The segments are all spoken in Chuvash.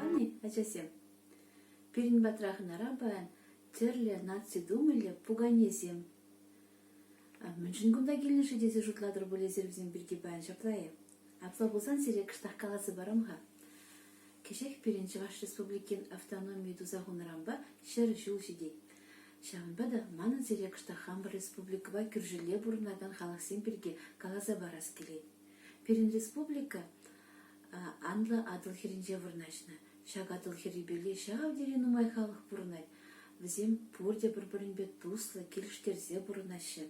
Ани, ачасем, пирӗн патра хӑнара паян тӗрлӗ наци думиллӗ пуканесем. Мӗншӗн кунта килнӗ-ши тесе шутлатӑр пуль эсир вӗсем пирки паян ҫапла-и? Апла пулсан сире кӑштах каласа парам-ха. Кӗҫех пирӗн Чӑваш Республикин автономийӗ туса хунӑранпа ҫӗр ҫул ҫитет. Ҫавӑнпа та манӑн сире кӑштах хамӑр республикӑпа кӳршӗлле пурӑнакан халӑхсем пирки каласа парас килет. Пирӗн республика анлӑ Атӑл хӗрринче вырнаҫнӑ. Ҫак Атӑл хӗррипеле ҫав тери нумай халӑх пурӑнать. Вӗсем пурте пӗр-пӗринпе туслӑ, килӗштерсе пурӑнаҫҫӗ.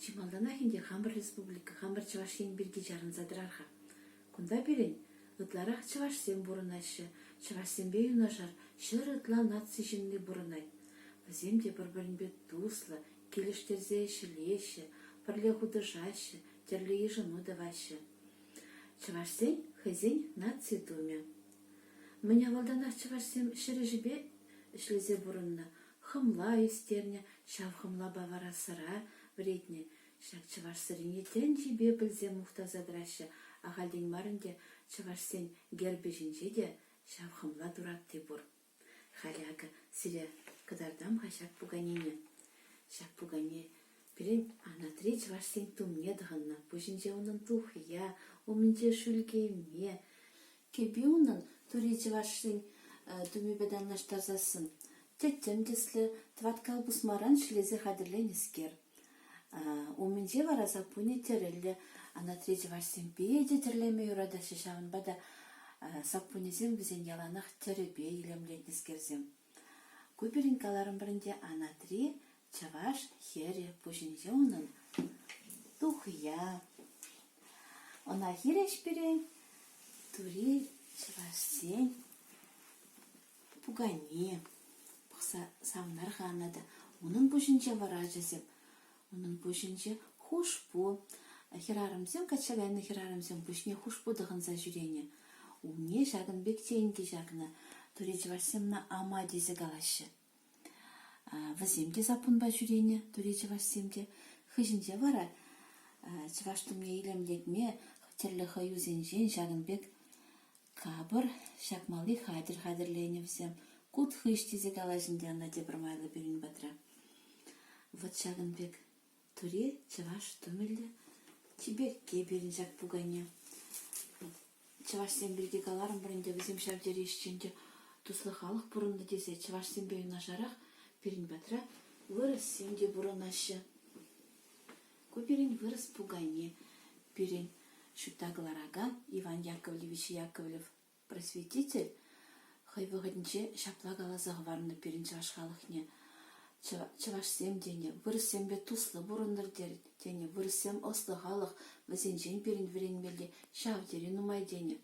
Чи малтанах ӗнтӗ хамӑр республика, хамӑр Чӑваш Ен пирки чарӑнса тӑрар-ха. Кунта пирӗн ытларах чӑвашсем пурӑнаҫҫӗ, чӑвашсемпе юнашар ҫӗр ытла наци ҫынни пурӑнать. Вӗсем те пӗр-пӗринпе туслӑ, килӗштерсе ӗҫлеҫҫӗ, пӗрле хутӑшаҫҫӗ, тӗрлӗ йышӑну тӑваҫҫӗ. Чӑвашсен хӑйсен наци тумӗ. Мӗн авалтанах чӑвашсем ҫӗр ӗҫӗпе ӗҫлесе пурӑннӑ, Хӑмла ӳстернӗ, ҫав хӑмлапа вара сӑра вӗретнӗ. Ҫак чӑваш сӑрине тӗнчипе пӗлсе мухтаса тӑраҫҫӗ. Ахальтен мар ӗнтӗ чӑвашсен гербӗ ҫинче те ҫав хӑмла туратти пур. Халӗ акӑ сире кӑтартам-ха ҫак пуканене. Ҫак пукане пирӗн Анатри чӑвашсен тумне тӑхӑннӑ. Пуҫӗнче унӑн тухӑя, умӗнче шӳлкеме, Кӗпи унӑн тури чӑвашсен тумӗпе танлаштарсассӑн тӗттӗм тӗслӗ, тӑваткал пусмаран ҫӗлесе хатӗрленӗскер. Умӗнче вара саппунӗ тӗрӗллӗ. Анатри чӑвашсем питӗ тӗрлеме юратаҫҫӗ, ҫавӑнпа та саппунӗсем вӗсен яланах тӗрӗпе илемлетнӗскерсем. Ку пирӗн каларӑмӑр ӗнтӗ Анатри чӑваш хӗрӗ пуҫӗнче унӑн тухӑя. Ӑна хирӗҫ пире тури чӑвашсен пукане пӑхса савӑнарханӑ та унӑн пуҫӗнче вӑрачӗсем Унӑн пуҫӗнче хушпу. Хӗрарӑмсем качча кайнӑ хӗрарӑмсем пуҫне хушпу тӑхӑнса ҫӳренӗ. Умне ҫакӑн пек тенкӗ ҫакнӑ. Тури чӑвашсемна ама тесе калаҫҫӗ. Вӗсем те саппунпа ҫӳренӗ, тури чӑвашсем те. Хыҫӗнче вара чӑваш тумне илемлетме тӗрлӗ хӑюсенчен ҫакӑн пек Капӑр, ҫакмалли хатӗр хатӗрленӗ вӗсем. «Кут хыҫ» тесе калаҫ ӗнтӗ ӑна тепӗр майлӑ пирӗн патра. Вот ҫакӑн пек тури чӑваш тумӗллӗ чиперкке пирӗн ҫак пукане. Чӑвашсем пирки каларӑмӑр ӗнтӗ, вӗсем ҫав тери ӗҫчен те туслӑ халӑх пурӑннӑ тесе. Чӑвашсемпе юнашарах пирӗн патра вырӑссем те пурӑнаҫҫӗ. Ку пирӗн вырӑс пукане пирӗн, ҫутта кӑларакан Иван Яковлевич Яковлев просветитель хӑй вӑхӑтӗнче ҫапла каласа хӑварнӑ пирӗн чӑваш халӑхне. Чӑвашсем тенӗ вырӑссемпе туслӑ пурӑнтӑр тенӗ, вырӑссем ӑслӑ халӑх, вӗсенчен пирӗн вӗренмелли ҫав тери нумай тенӗ.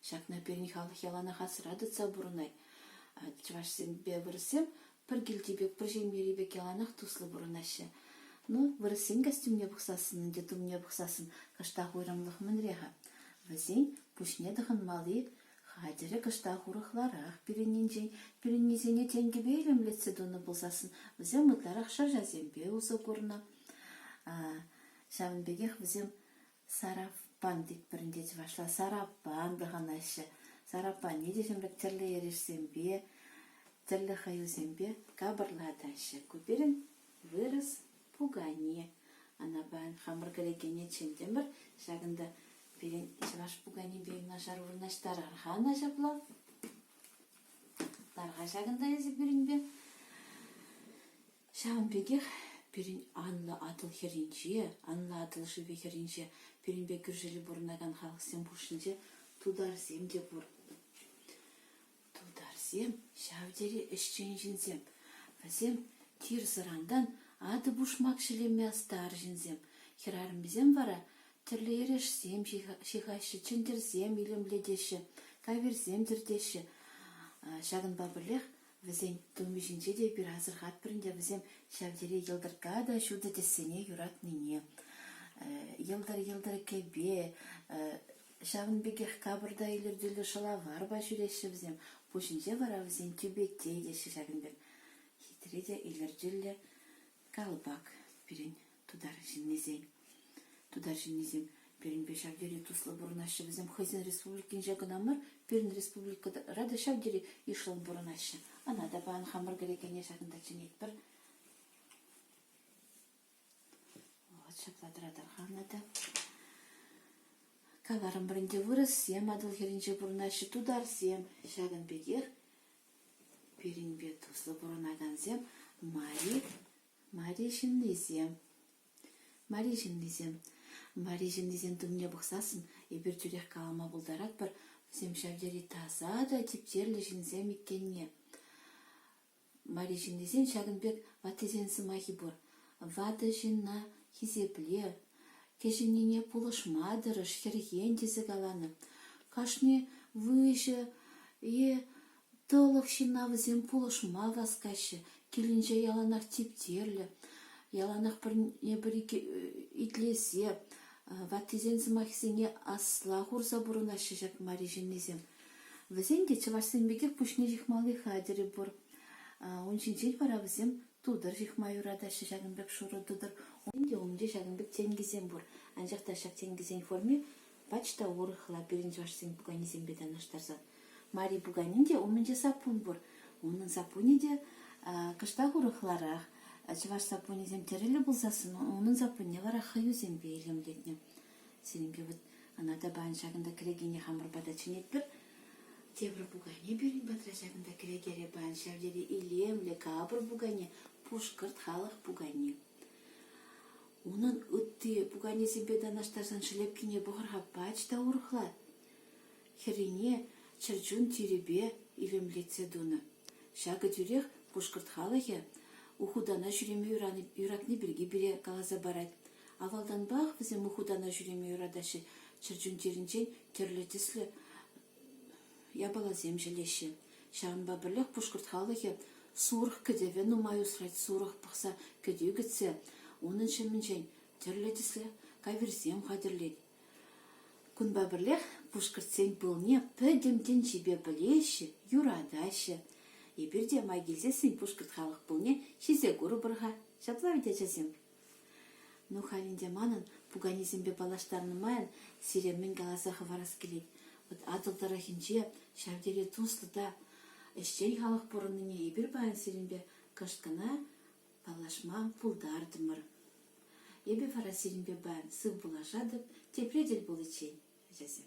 Ҫакна пирӗн халӑх яланах асра тытса пурӑнать. Чӑвашсемпе вырӑссем Пӗр килти пек, пӗр ҫемьери пек яланах туслӑ пурӑнаҫҫӗ. Ну, вырӑссен костюмне пӑхсассӑн ӗнтӗ тумне пӑхсассӑн кӑштах уйрӑмлӑх мӗнре-ха? Вӗсен пуҫне тӑхӑнмалли хатӗрӗ кӑштах урӑхларах. Пирӗннинчен пирӗннисене тенкӗпе илемлетсе тунӑ пулсассӑн вӗсем ытларах шӑрҫасемпе усӑ курнӑ. Ҫавӑн пекех вӗсем Сараппан тетпӗр те чӑвашла сараппан пӑхӑнаҫҫӗ. Сараппане те ҫамрӑк тӗрлӗ эрешсемпе, тӗрлӗ хӑюсемпе капӑрлатаҫҫӗ. Ку пирӗн вырӑс пукане. Анапа хамӑр кӗрекене чӗнтӗмӗр. Ҫакӑнта пирӗн чӑваш пуканипе юнашар вырнаҫтарар-ха ӑна ҫапла. Тар-ха ҫакӑнта эсӗ пирӗнпе. Ҫавӑн пекех пирӗн анлӑ Атӑл хӗрринче, анлӑ Атӑл шывӗ хӗрринче, пирӗнпе кӳршӗре пурӑнакан халӑхсем хушшинче тутарсем те пур. Тутарсем ҫав тери ӗҫчен ҫынсем. Вӗсем тир-сӑрантан атӑ-пушмак ҫӗлеме ӑстар ҫынсем. Хӗрарӑмӗсем вара тӗрлӗ эрешсем ҫыхаҫҫӗ, чӗнтӗрсем илемлетеҫҫӗ, каверсем тӗртеҫҫӗ. Ҫакӑнпа пӗрлех Вӗсен тумӗ ҫинче те эпир асӑрхатпӑр ӗнтӗ вӗсем ҫав тери йӑлтӑркка та ҫутӑ тӗссене юратнине. Йӑлтӑр-йӑлтӑр кӗпе, ҫавӑн пекех капӑрта илӗртӳллӗ шӑлаварпа ҫӳреҫҫӗ вӗсем. Пуҫӗнче вара вӗсен тӳпетте теҫҫӗ ҫакӑн пек хитре те илӗртӳллӗ калпак пирӗн. Тутар ҫыннисен, тутар ҫыннисем пирӗнпе ҫав тери туслӑ пурӑнаҫҫӗ. Вӗсем хӑйсен республикинче кӑна мар, пирӗн республикӑра та ҫав тери йышлӑн пурӑнаҫҫӗ. Ана та паян хамӑр кӗрекене ҫакӑнта чӗнетпӗр. Вот ҫапла тӑратар-ха ӑна та. Каларӑмӑр ӗнтӗ, вырӑссем Атӑл хӗрринче пурӑнаҫҫӗ, тутарсем. Ҫакӑн пекех пирӗнпе туслӑ пурӑнакансем Мари Мари ҫыннисем, Мари ҫыннисем, Мари ҫыннисен тумне пӑхсассӑн эпир тӳрех калама пултаратпӑр, вӗсем ҫав тери таса та типтерлӗ ҫынсем иккенне. Мари ҫыннисен ҫакӑн пек ваттисен сӑмахи пур. Ватӑ ҫынна хисеплев, кӗҫӗннине пулӑшма тӑрӑш, хӗрхен тесе каланӑ. Кашни выҫӑ е Тӑлӑх ҫынна вӗсем пулӑшма васкаҫҫӗ, килӗнче яланах типтерлӗ, яланах пӗрне-пӗри итлесе, ваттисен сӑмахӗсене асла курса пурӑнаҫҫӗ ҫак мари ҫыннисем. Вӗсен те чӑвашсем пекех пуҫне ҫыхмалли хатӗрӗ пур. Ун ҫинчен вара вӗсем тутӑр ҫыхма юратаҫҫӗ, ҫакӑн пек шурӑ тутӑр. Унччен те ҫакӑн пек тенкӗсем пур, анчах та ҫак тенкӗсен форми Пач та урӑхла пирӗн чӑвашсен пуканисемпе танлаштарса. Мари пуканин те умӗнче саппун пур. Унӑн саппунӗ те кӑштах урӑхларах. Чӑваш саппунӗсем тӗрӗллӗ пулсассӑн унӑн саппунне вара хӑюсемпе илемлетнӗ. Сирӗнпе вот ӑна тапан ҫакӑнта кӗрекене хамӑрпа та чӗнетпӗр. Тепӗр пукане пирӗн патра ҫакӑнта кӗрекере пан. Ҫав тери илемлӗ капӑр пукане, пушкӑрт халӑх пукани. Унӑн ытти пуканесемпе танлаштарсан шелепкине пӑхӑр-ха пач та урӑхла. Хӗррине чӗрчун тирӗпе илемлетсе тунӑ. Ҫакӑ тӳрех пушкӑрт халӑхӗ Ухутана ҫӳреме юратни пирки пире каласа парать. Авалтанпах вӗсем Ухутана ҫӳреме юратаҫҫӗ. Чӗрчун тирӗнчен тӗрлӗ тӗслӗ япаласем ҫӗлеҫҫӗ. Ҫавӑнпа пӗрлех пушкӑрт халӑхӗ сурӑх кӗтӗвӗ нумай усрать. Сурӑх пӑхса кӗтӳ кӗтсе унӑн ҫумӗнчен тӗрлӗ тӗслӗ каверсем хатӗрлет. Кунпа пӗрлех пушкӑртсен пылне пӗтӗм тӗнчипе пӗлеҫҫӗ, юратаҫҫӗ. Эпир те май килсессӗн пушкӑрт халӑх пылне ҫисе курӑпӑр-ха. Ҫапла вӗт, ачасем? Ну, халь ӗнтӗ манӑн, пуканесемпе паллаштарнӑ майӑн, сире мӗн каласа хӑварас килет: вӑт Атӑл тӑрӑхӗнче ҫав тери туслӑ та ӗҫчен халӑх пурӑннине эпир паян сирӗнпе кӑшт кӑна паллашма пултартӑмӑр. Эпӗ вара сирӗнпе паян сыв пулашатӑп, тепре тӗл пуличчен, ачасем.